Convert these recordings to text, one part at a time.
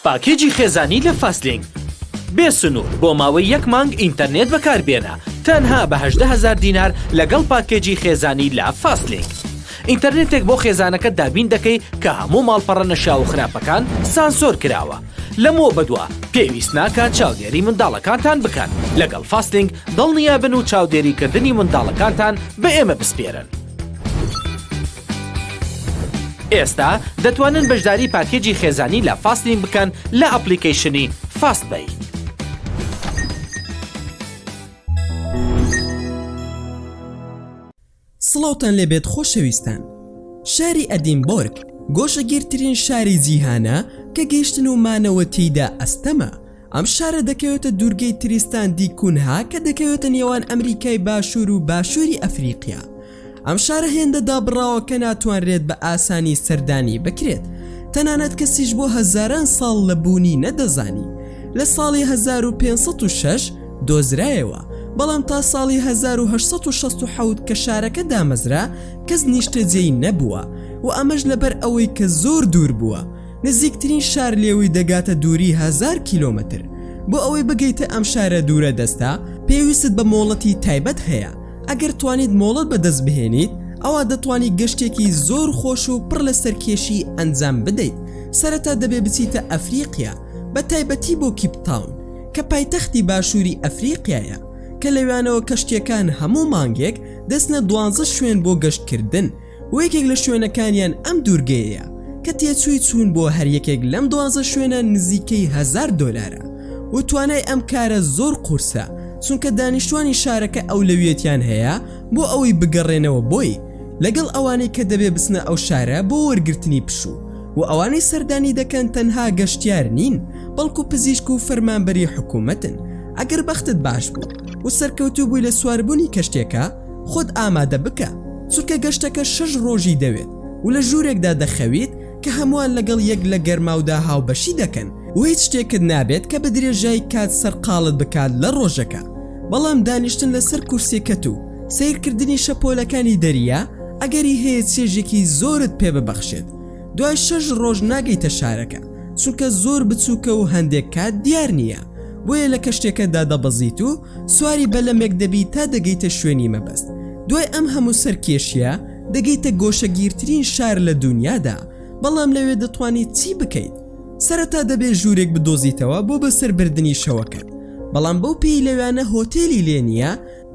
پاکێجی خێزانی لە فاستلینک بێ سنوور بۆ ماوەی یەک مانگ ئینتەرنێت بەکاربێنە تەنها بە هەژدە هەزار دینار لەگەڵ پاکێجی خێزانی لە فاستلینک ئینتەرنێتێک بۆ خێزانەکە دابین دەکەی کە هەموو ماڵپەڕە نەشیاو و خراپەکان سانسۆر کراوە لەمەوە بەدوا پێویست ناکات چاودێری منداڵەکانتان بکەن لەگەڵ فاستلینک دڵنیابن و چاودێریکردنی منداڵەکانتان بە ئێمە بسپێرن. ئێستا دەتوانن بەشداری پاکێجی خێزانی لە فاستین بکەن لە ئەپلیکەیشنی فاست بەی. سڵاوتان لێبێت خۆشەویستان شاری ئەدینبۆرگ گۆشەگیرترین شاری جیهانە کە گەیشتن و مانەوە تێیدا ئەستەمە ئەم شارە دەکەوێتە دوورگەی تریستان دی کونها کە دەکەوێتە نێوان ئەمریکای باشوور و باشووری ئەفریقیا ئەم شارە هێندە دابڕاوە کە ناتوانرێت بە ئاسانی سەردانی بکرێت تەنانەت کەسیش بۆ هەزاران ساڵ لە بوونی نەدەزانی لە ساڵی 1506 دۆزرایەوە بەڵام تا ساڵی 1960 کە شارەکە دامەزرا کەس نیشتەجێی نەبووە و ئەمەش لەبەر ئەوەی کە زۆر دوور بووە نزیکترین شار لێوی دەگاتە دووری هەزار کیلۆمەتر بۆ ئەوەی بگەیتە ئەم شارە دوورە دەستە پێویستت بە مۆڵەتی تایبەت هەیە ئەگەر توانیت مۆڵەت بەدەست بهێنیت ئەوا دەتوانی گەشتێکی زۆر خۆش و پڕ لە سەرکێشی ئەنجام بدەیت سەرەتا دەبێ بچیتە ئەفریقیا بە تایبەتی بۆ کیپتاون کە پایتەختی باشووری ئەفریقیایە کە لەوانەوە کەشتیەکان هەموو مانگێک دەستنە دوانزە شوێن بۆ گەشتکردن و یەکێک لە شوێنەکانیان ئەم دوورگەیەیە کە تێچووی چوون بۆ هەر یەکێک لەم دوازە شوێنە نزیکەی هەزار دۆلارە و توانای ئەم کارە زۆر قورسە چونکە دانیشتوانی شارەکە ئەولەویەتیان هەیە بۆ ئەوەی بگەڕێنەوە بۆی لەگەڵ ئەوانەی کە دەبێ بچنە ئەو شارە بۆ وەرگرتنی پشوو و ئەوانەی سەردانی دەکەن تەنها گەشتیار نین بەڵکو پزیشک و فەرمانبەری حکوومەتن ئەگەر بەختت باش بوو و سەرکەوتوو بووی لە سواربوونی کەشتێکە خۆت ئامادە بکە، چونکە گەشتەکە شەش ڕۆژی دەوێت و لە ژوورێکدا دەخەویت کە هەمووان لەگەڵ یەک لە گەرماودا هاوبەشی دەکەن و هیچ شتێکت نابێت کە بەدرێژای کات سەرقاڵت بکات لە ڕۆژەکە، بەڵام دانیشتن لەسەر کورسییەکەت و سەیرکردنی شەپۆلەکانی دەریا ئەگەری هەیە چێژێکی زۆرت پێ ببەخشێت. دوای شەش ڕۆژ ناگەیتە شارەکە، چونکە زۆر بچووکە و هەندێک کات دیار نییە، بۆیە لە کەشتیەکەدا دەبەزیت و سواری بەلەمێک دەبیت تا دەگەیتە شوێنی مەبەست دوای ئەم هەموو سەرکێشیە دەگەیتە گۆشەگیرترین شار لە دونیادا بەڵام لەوێ دەتوانیت چی بکەیت سەرەتا دەبێت ژوورێک بدۆزیتەوە بۆ بەسەربردنی شەوەکەت بەڵام بەو پێی لەوێانە هۆتێلی لێ نییە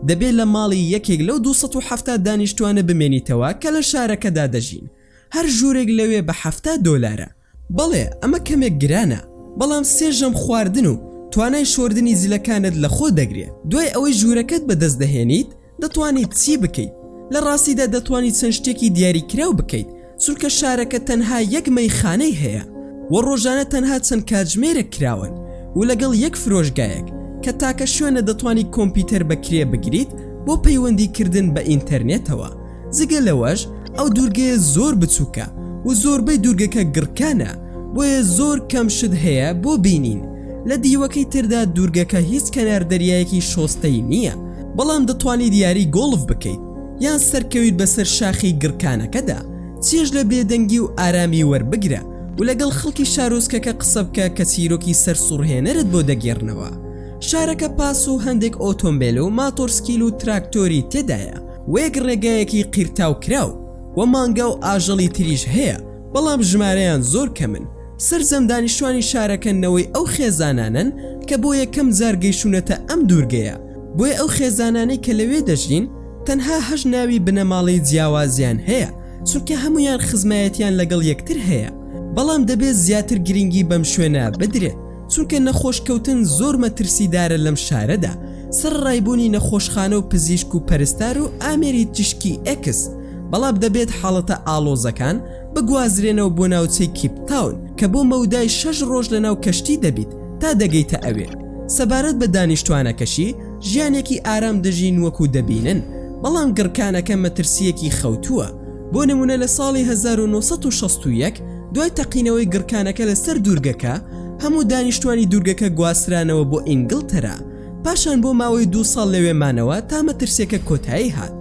دەبێت لە ماڵی یەکێک لەو 270 دانیشتوانە بمێنیتەوە کە لە شارەکەدا دەژین هەر ژوورێک لەوێ بە حەفتا دۆلارە. بەڵێ ئەمە کەمێک گرانە بەڵام سێ ژەم خواردن و توانای شۆردنی زلەکانت لەخۆ دەگرێت دوای ئەوەی ژوورەکەت بەدەست دەهێنیت دەتوانیت چی بکەیت لە ڕاستیدا دەتوانیت چەند شتێکی دیاریکراو بکەیت چونکە شارەکە تەنها یەک مەیخانەی هەیە و ڕۆژانە تەنها چەند کاتژمێرێک کراون و لەگەڵ یەک فرۆشگایەک کە تاکە شوێنە دەتوانیت کۆمپیوتەر بەکرێ بگریت بۆ پەیوەندی کردن بە ئینتەرنێتەوە جگە لەوەش ئەو دوورگەیە زۆر بچووکە و زۆربەی دوورگەکە گڕکانە بۆیە زۆر کەم شت هەیە بۆ بینین لە دیوەکەی تردا دوورگەکە هیچ کەنار دەریایەکی شۆستەی نییە بەڵام دەتوانیت یاری گۆڵف بکەیت یان سەرکەویت بەسەر شاخی گڕکانەکەدا چێژ لە بێدەنگی و ئارامی وەربگرە و لەگەڵ خەڵکی شارۆچکەکە قسە بکە کە چیرۆکی سەرسوڕهێنەرت بۆ دەگێڕنەوە شارەکە پاس و هەندێک ئۆتۆمبیل و ماتۆرسکیل و تراکتۆری تێدایە وەیەک ڕێگایەکی قیرتاو کراو و مانگا و ئاژەڵی تریش هەیە بەڵام ژمارەیان زۆر کەمن، سەرجەم دانیشتوانی شارەکە نەوەی ئەو خێزانانەن کە بۆ یەکەم جار گەیشونەتە ئەم دوورگەیە، بۆیە ئەو خێزانانەی کە لەوێ دەژین تەنها هەشت ناوی بنەماڵەی جیاوازیان هەیە چونکە هەموویان خزمایەتیان لەگەڵ یەکتر هەیە بەڵام دەبێت زیاتر گرنگی بەم شوێنە بدرێت. چونکە نەخۆش کەوتن زۆر مەترسیدارە لەم شارەدا سەر ڕایبوونی نەخۆشخانە و پزیشک و پەرستار و ئامێری تیشکی ئێکس بەڵام دەبێت حاڵەتە ئاڵۆزەکان بگوازرێنەوە بۆ ناوچەی کیپتاون کە بۆ مەودای شەش ڕۆژ لە ناو کەشتی دەبیت تا دەگەیتە ئەوێ سەبارەت بە دانیشتوانەکەشی ژیانێکی ئارام دەژین وەکو دەبینن بەڵام گڕکانەکە مەترسیەکی خەوتووە بۆ نموونە لە ساڵی هەزار و نۆ سەد و شەست و یەک دوای تەقینەوەی گڕکانەکە لە سەر دوورگەکە، هەموو دانیشتوانی دوورگەکە گواسترانەوە بۆ ئینگڵتەرا، پاشان بۆ ماوەی دوو ساڵ لەوێ مانەوە تا مەترسیەکە کۆتایی هات،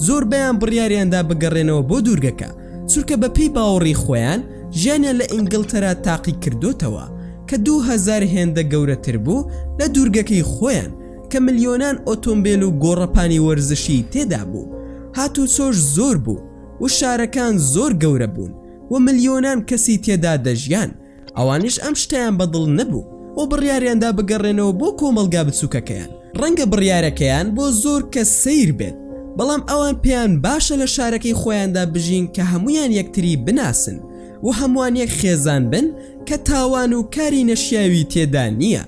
زۆربەیان بڕیاریان دا بگەڕێنەوە بۆ دوورگەکە، چونکە بە پێی باوەڕی خۆیان ژیانیان لە ئینگڵتەرا تاقی کردۆتەوە کە دوو هەزار هێندە گەورەتر بوو لە دوورگەکەی خۆیان، کە ملیۆنان ئۆتۆمبێل و گۆڕەپانی وەرزشی تێدا بوو، هاتوچۆش زۆر بوو و شارەکان زۆر گەورە بوون و ملیۆنان کەسی تێدا دەژیان، ئەوانیش ئەم شتەیان بە دڵ نەبوو و بڕیاریان دا بگەڕێنەوە بۆ کۆمەڵگا بچووکەکەیان. ڕەنگە بڕیارەکەیان بۆ زۆر کەس سەیر بێت، بەڵام ئەوان پێیان باشە لە شارەکەی خۆیاندا بژین کە هەموویان یەکتری بناسن و هەمووان یەک خێزان بن کە تاوان و کاری نەشیاوی تێدا نییە،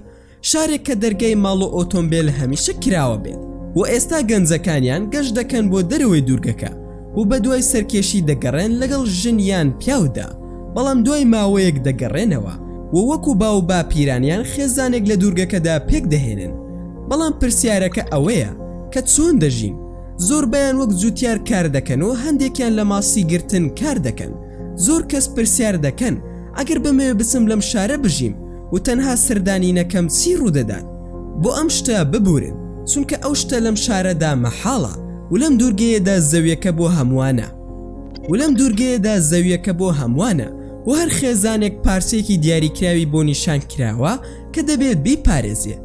شارێک کە دەرگای ماڵ و ئۆتۆمبێل هەمیشە کراوە بێت و ئێستا گەنجەکانیان گەشت دەکەن بۆ دەرەوەی دوورگەکە و بە دوای سەرکێشی دەگەڕێن لەگەڵ ژن یان پیاودا بەڵام دوای ماوەیەک دەگەڕێنەوە و وەکو باو باپیرانیان خێزانێک لە دوورگەکەدا پێک دەهێنن بەڵام پرسیارەکە ئەوەیە کە چۆن دەژین زۆربیان وەک جوتیار کار دەکەن و هەندێکیان لە ماسی گرتن کار دەکەن زۆر کەس پرسیار دەکەن ئەگەر بمەوێ بچم لەم شارە بژیم و تەنها سەردانینەکەم چی ڕوودەدات بۆ ئەم شتە ببورن چونکە ئەو شتە لەم شارەدا مەحاڵە و لەم دوورگەیەدا زەویەکە بۆ هەمووانە و لەم دوورگەیەدا زەویەکە بۆ هەمووانە و هەر خێزانێک پارچەیەکی دیاریکراوی بۆ نیشان کراوە کە دەبێت بیپارێزێ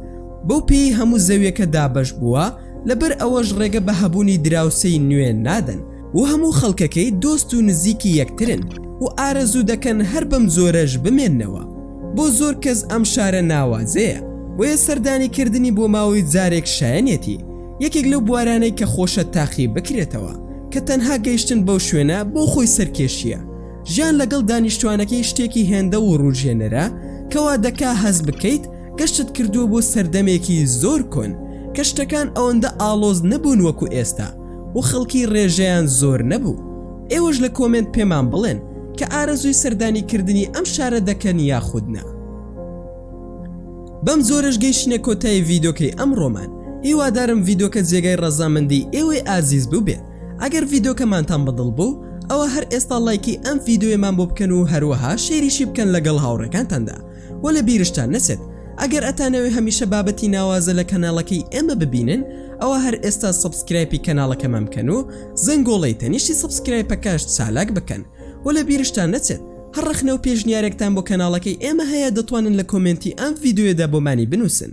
بەو پێی هەموو زەویەکە دابەش بووە لەبەر ئەوەش ڕێگە بە هەبوونی دراوسێی نوێ نادەن و هەموو خەڵکەکەی دۆست و نزیکی یەکترن و ئارەزوو دەکەن هەر بەم جۆرەش بمێننەوە، بۆ زۆر کەس ئەم شارە ناوازەیە، بۆیە سەردانی کردنی بۆ ماوەی جارێک شایەنیەتی یەکێک لەو بوارانەی کە خۆشە تاقی بکرێتەوە کە تەنها گەیشتن بەو شوێنە بۆ خۆی سەرکێشییە. ژیان لەگەڵ دانیشتوانەکەی شتێکی هێندە وروژێنەرە کە وا دەکا هەست بکەیت گەشتت کردووە بۆ سەردەمێکی زۆر کۆن کە شتەکان ئەوەندە ئاڵۆز نەبوون وەکو ئێستا، و خەڵکی ڕێژەیان زۆر نەبوو ئێوەش لە کۆمێنت پێمان بڵێن کە ئارەزووی سەردانی کردنی ئەم شارە دەکەن یاخودنا بەم زۆرش گەیشتە کۆتایی ڤیدۆکەی ئەم ڕۆمان هیوادارم ڤیدۆکە جێگای ڕەزامەندی ئێوەی ئازیز بووبێ ئەگەر ڤیدۆکەمانتان بەدڵ بوو ئەوە هەر ئێستا لایکی ئەم ڤیددیوێمان بۆ بکەن و هەروەها شێریشی بکەن لەگەڵ هاوڕەکانتاندا وە لە بیرشتان نەچێت ئەگەر ئەتانەوێ هەمیشە بابەتی ناوازە لە کەناڵەکەی ئێمە ببینن ئەوە هەر ئێستا سبسکرایپی کەناڵەکەمان بکەن و زەنگۆڵەی تەنیشتی سبسکرایپەکەش چالاک بکەن و لە بیرشتان نەچێت هەر ڕەخنە و پێشنیارێکتان بۆ کەناڵەکەی ئێمە هەیە دەتوانن لە کۆمێنتی ئەم ڤیددیوێدا بۆمانی بنووسن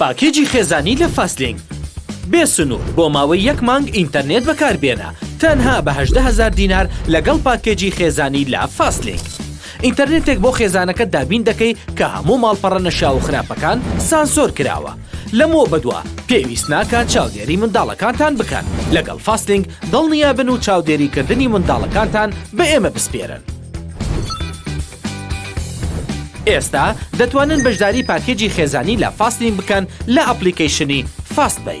پاکێجی خێزانی لە فاستلینک بێ سنوور بۆ ماوەی یەک مانگ ئینتەرنێت بەکاربێنە تەنها بە هەژدە هەزار دینار لەگەڵ پاکێجی خێزانی لە فاستلینک ئینتەرنێتێک بۆ خێزانەکەت دابین دەکەی کە هەموو ماڵپەڕە نەشیاو و خراپەکان سانسۆر کراوە لەمەوە بەدوا پێویست ناکات چاودێری منداڵەکانتان بکەن لەگەڵ فاستلینک دڵنیابن و چاودێریکردنی منداڵەکانتان بە ئێمە بسپێرن. ئێستا دەتوانن بەشداری پاکێجی خێزانی لە فاستین بکەن لە ئەپلیکەیشنی فاست بی.